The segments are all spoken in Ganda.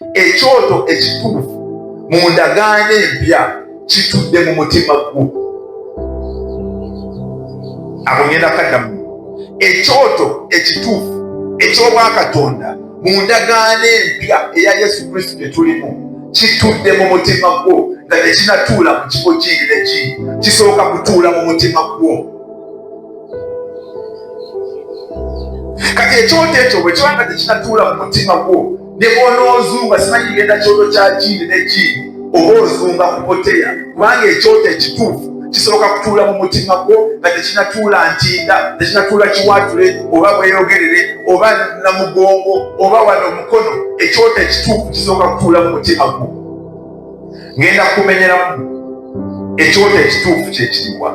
Ekyoto ekituufu mu ndagaano empya kitudde mu mutima gwo. Abo ngenda kaddamu. Ekyoto ekituufu eky'obwakatonda mu ndagaano empya eya Yesu Kristo gye tulimu kitudde mu mutima gwo nga tekinatuula mu kifo kindi ne kindi, kisooka kutuula mu mutima gwo. Kati ekyoto ekyo bwe kiba nga tekinatuula mu mutima gwo ne bw'onoozunga simanyi kigenda kyoto kya jiini ne jiini oba ozunga ku boteya kubanga ekyoto ekituufu kisoboka kutuula mu mutima gwo nga tekinatuula ntinda tekinatuula kiwatule oba bweyogerere oba namugongo oba wano omukono ekyoto ekituufu kisoboka kutuula mu mutima gwo ngenda kumenyeramu ekyoto ekituufu kyekiriwa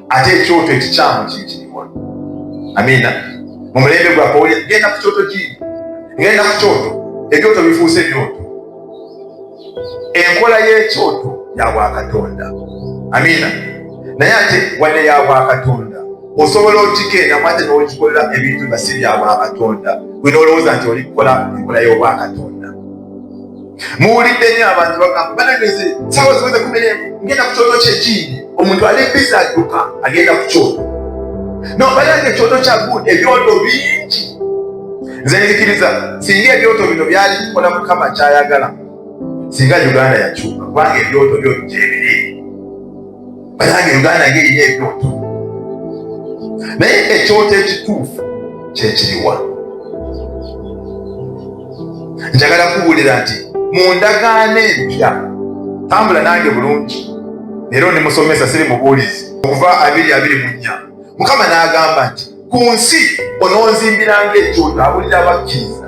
ate ekyoto ekikyamu kiyitirirwa amiina mu mulembe gwaffe oli genda ku kyoto ki genda ku kyoto ebyoto bifuuse ebyoto enkola y'ekyoto ya bwakatonda amiina naye ate wadde ya bwakatonda osobola okigenda mwate n'okikolera ebintu nga si bya bwakatonda gwe n'olowooza nti oli kukola enkola y'obwakatonda muwulidde nyo abantu bagamba banageze sawa ziweze kumere ngenda ku kyoto kyekindi omuntu ali biza adduka agenda ku kyoto no banange ekyoto kya good ebyoto bingi nze nzikiriza singa ebyoto bino byali bikola mukama kyayagala singa uganda yakyuka kubanga ebyoto byo byebiri banange uganda ng'erina ebyoto naye ekyoto ekituufu kyekiriwa njagala kubuulira nti mu ndagaano empya tambula nange bulungi era onemusomesa siri mubuulizi okuva abiri abiri mu nnya mukama n'agamba nti ku nsi ononzimbiranga ekyoto abulira abakkiriza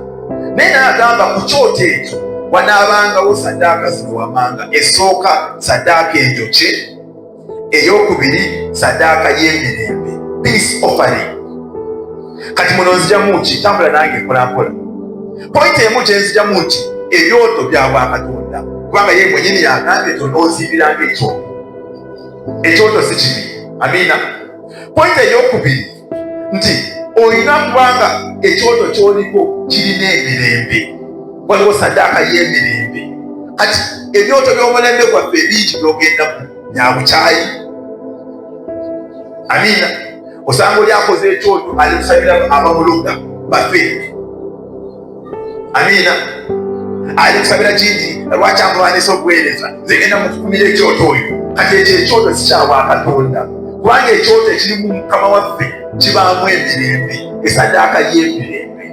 naye naye agamba ku kyoto ekyo wanaabangawo sadaaka zino wamanga esooka sadaaka enjokye eyokubiri sadaaka y'emirembe peace offering kati muno nzijamu ki tambula nange mpolampola pointi emu kyenzijamu nti ebyoto bya bwakatonda kubanga ye mwenyini yagambye tononzimbiranga ekyoto ekyoto si kibi amiina Pointi ey'okubiri nti olina kubanga ekyoto kyoliko kirina emirembe, waliwo saddaaka y'emirembe. Kati ebyoto by'omulembe gwaffe ebingi byogendamu byabukyayi. Amiina. Osanga oli akoze ekyoto ali kusabira abamuloga bafe amiina ali kusabira kingi lwaki amulwanyisa okuweereza zegenda mukukumira ekyoto oyo kati ekyo ekyoto sikyawa katonda kubanga ekyoto ekirimu mukama waffe kibaamu emirembe esadaaka y'emirembe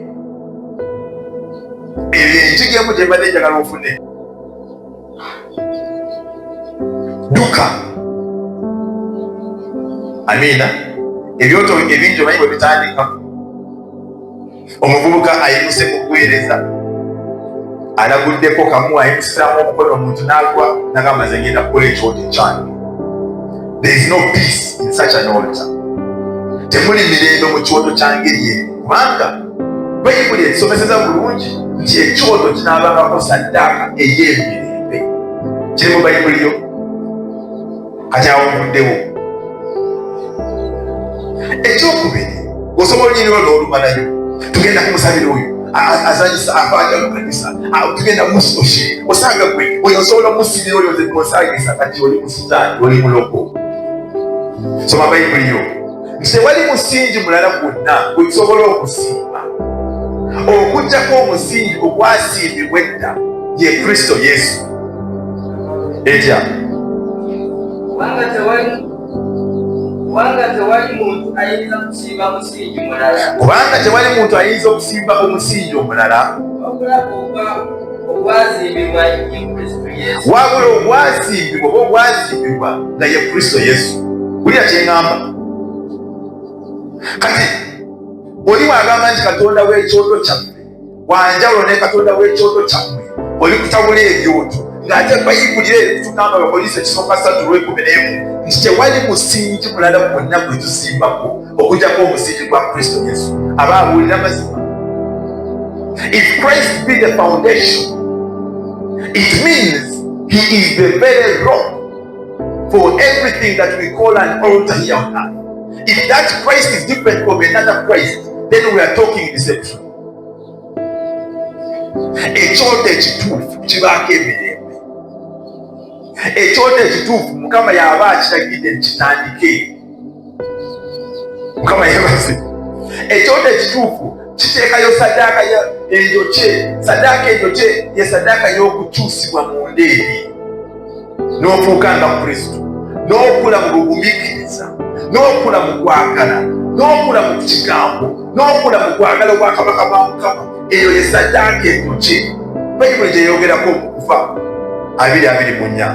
ebyo enjiga emu gyembadde njagala ofune duka amiina ebyoto ebingi omanyi bwe bitandika Omuvubuka ayimuse mu kuweereza alaguddeko kamu ayimusizaamu omukono omuntu n'agwa nagamba nze ngenda kukola ekyoto kyange. There is no peace in such an altar. Temuli mirembe mu kyoto kya ngeri eyo kubanga bayibuli ekisomeseza bulungi nti ekyoto kinaabangako saddaaka ey'emirembe kiri mu bayibuli yo kati awuguddewo ekyokubiri osobola onyiriwo n'olumalayo tugenda kumusabira oyo azanyisa abaja mu kanisa tugenda musoshe osanga gwe oyo osobola omusibira oyo osangisa kati oli musitaani oli muloko soma bayibuli yo nti tewali musingi mulala gwonna gwe tusobola okusiima okujjako omusingi ogwasiimibwa edda ye kristo yesu etya kubanga tewali kubanga tewali muntu ayinza okusimba omusingi omulala okulaba oba wabula obwazimbibwa oba obwazimbibwa nga ye kristo yesu wulira kyeŋamba kati oli wagamba nti katonda w'ekyoto kyaffe wanjawulo ne katonda w'ekyoto kyammwe oli kutabula ebyoto ng'ate bayibulira ebitugamba bapoliisi ekisooka satu lwekumi n'emu nti tewali musingi mulala gwonna gwe tusimbako okujjako omusingi gwa kristo yesu aba abuulira mazima if christ be the foundation it means he is the very rock for everything that we call an altar here on earth if that christ is different from another christ then we are talking deception ekyoto ekituufu kibaako emirembe ekyoto ekituufu mukama yaba akiragidde kitandike mukama yebaze ekyoto ekituufu kiteekayo sadaaka enjokye sadaaka enjokye ye sadaaka y'okukyusibwa mu ndeeri n'ofuuka nga kristo n'okula mu bugumikiriza n'okula mu kwagala n'okula mu kigambo n'okula mu kwagala obwakabaka bwa mukama eyo ye saddaaka entuki bayibuli gyeyogerako okufa abiri abiri mu nnya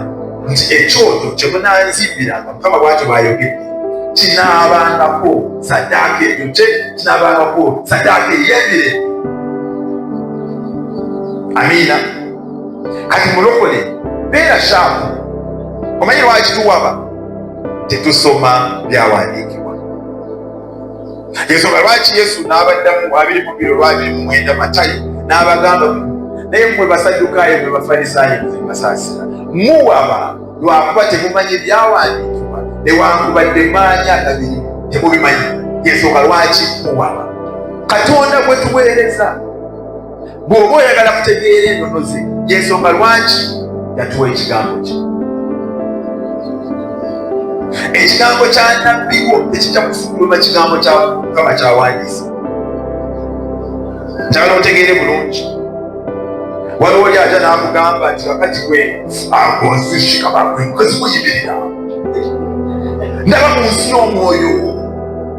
nti ekyoto kye munanzimbiranga mukama bwakyo bwayogedde kinaabangako saddaaka entuki kinaabangako saddaaka ey'ebire amiina kati mulokole beera shaamu omanyi lwaki tuwaba tetusoma byawandiikibwa ensonga lwaki yesu n'abaddamu abiri mu biro lwabiri mu mwenda matayo n'abagamba naye mmwe basaddukaayo mwe bafalisaayo nze mbasaasira muwaba lwakuba temumanyi ebyawandiikibwa newankubadde maanyi agabiri temubimanyi yensonga lwaki muwaba katonda gwe tuweereza Bw'oba oyagala kutegeera ennono ze, y'ensonga lwaki yatuwa ekigambo kye. Ekigambo kya nnabbi wo tekijja kufuluma kigambo kya Mukama kyawandiisa. Njagala otegeere bulungi. Waliwo oli aja n'amugamba nti wakati gwe agonzishika bakwe nkozi muyimirira ndaba mu nsi y'omwoyo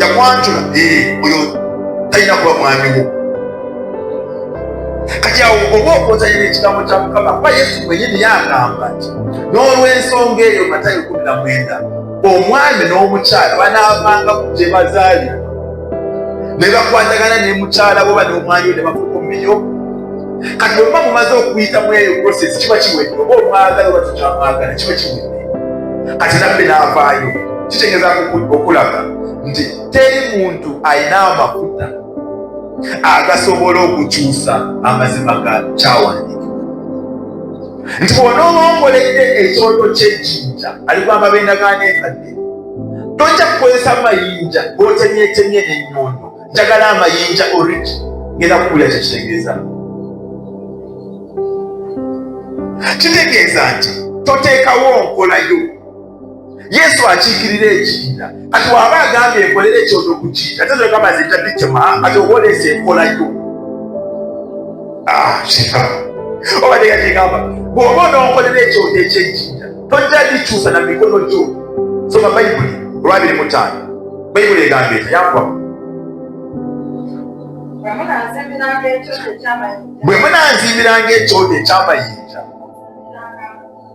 yakwanjula eh, oyo talina kuba mwamiwo kati awo oba okozanyira ekigambo kya mukama kuba yesu mwenyini yagamba nti n'olwensonga eyo matayo kumi na mwenda omwami n'omukyala banaavanga ku gye bazaalibwa ne bakwatagana ne mukyala boba n'omwami ne bafukumiyo kati bwemuba mumaze okuyita mu eyo process kiba kiwedde oba omwagala oba tukyamwagala kiba kiwedde kati nabbe n'avaayo kitegeeza okulaga nti teri muntu alina amafuta agasobola okukyusa amazima ga kyawandiika nti bwona oba ongoledde ekyoto kyejjinja aligwamba bendagaano enkadde tojja kukozesa mayinja gotemyetemye nenyondo njagala amayinja origi ngenda kukulira kyekitegeeza kitegeeza nti toteekawo nkolayo yesu akiikirira ekiina kati waba agambye enkolera ekyoto ku kiina tezogamba nze tabicema kati oba oleesa enkolayo ah, obadde gatigamba bwoba ononkolera ekyoto ekyekiina tojja gikyusa na mikono gyo soma bayibuli olwabiri mutaano bayibuli egamba eti yakuba bwe munanzimbiranga ekyoto ekyamayinja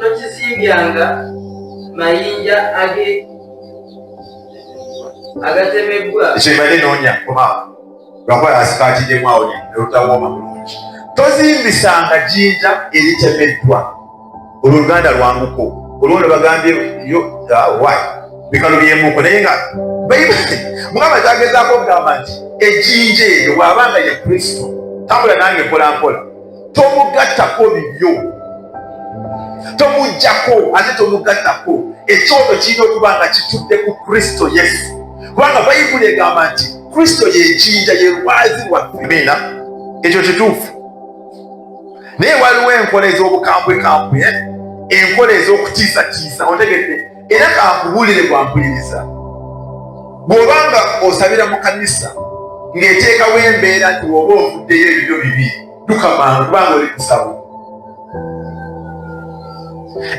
tokizimbyanga mayinja age agatemebbwa kyebale noonya oba lwakuba asikaatiddemu awo nolutawooma bulungi tozimbisanga jinja eritemeddwa olwo oluganda lwanguko olwo ne bagambye yo wa bikalo byemuko naye nga bayibuli mukama kyagezaako okugamba nti ejinja eryo bw'aba nga ye kristo tambula nange mpolampola tomugattako bibyo tomujjako ate tomugattako ekyoto kirina okuba nga kitudde ku kristo yesu kubanga bayibuli egamba nti kristo yejinja yerwazi wamiina ekyo kituufu naye waliwo enkola ez'obukambwekambwe eh? enkola ez'okutiisatiisa otegedde era kakubuulire gwampuliriza bw'oba nga osabira mu kanisa ng'eteekawo embeera nti woba ofuddeyo ebibyo bibi tukamanga kubanga oli kusabo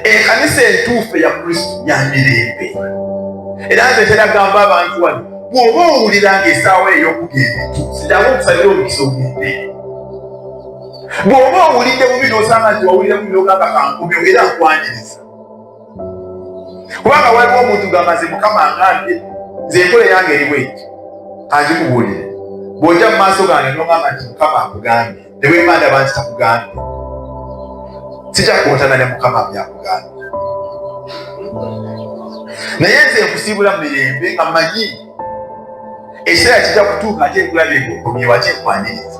ekanisa entuufu eya kristo ya mirembe era nze teragamba abantu wano bw'oba owulira ng'esaawa ey'okugenda entuusi jangu okusabira omukisa ogende bw'oba owulidde bubi n'osanga nti wawulira bubi n'ogamba kankomeo era nkwaniriza kubanga waliwo omuntu gamaze mukama ngambye nze enkola eyange eriwo eki angikubuulire bw'ojja mu maaso gange nogamba nti mukama akugambye ne bwemba ndaba nti takugambye sijakuwotana ne mukama byakugambye naye nze nkusiibula mu mirembe nga manyi ekiseera kijja kutuuka ate nkulabye ngokomyewo ate nkwaniriza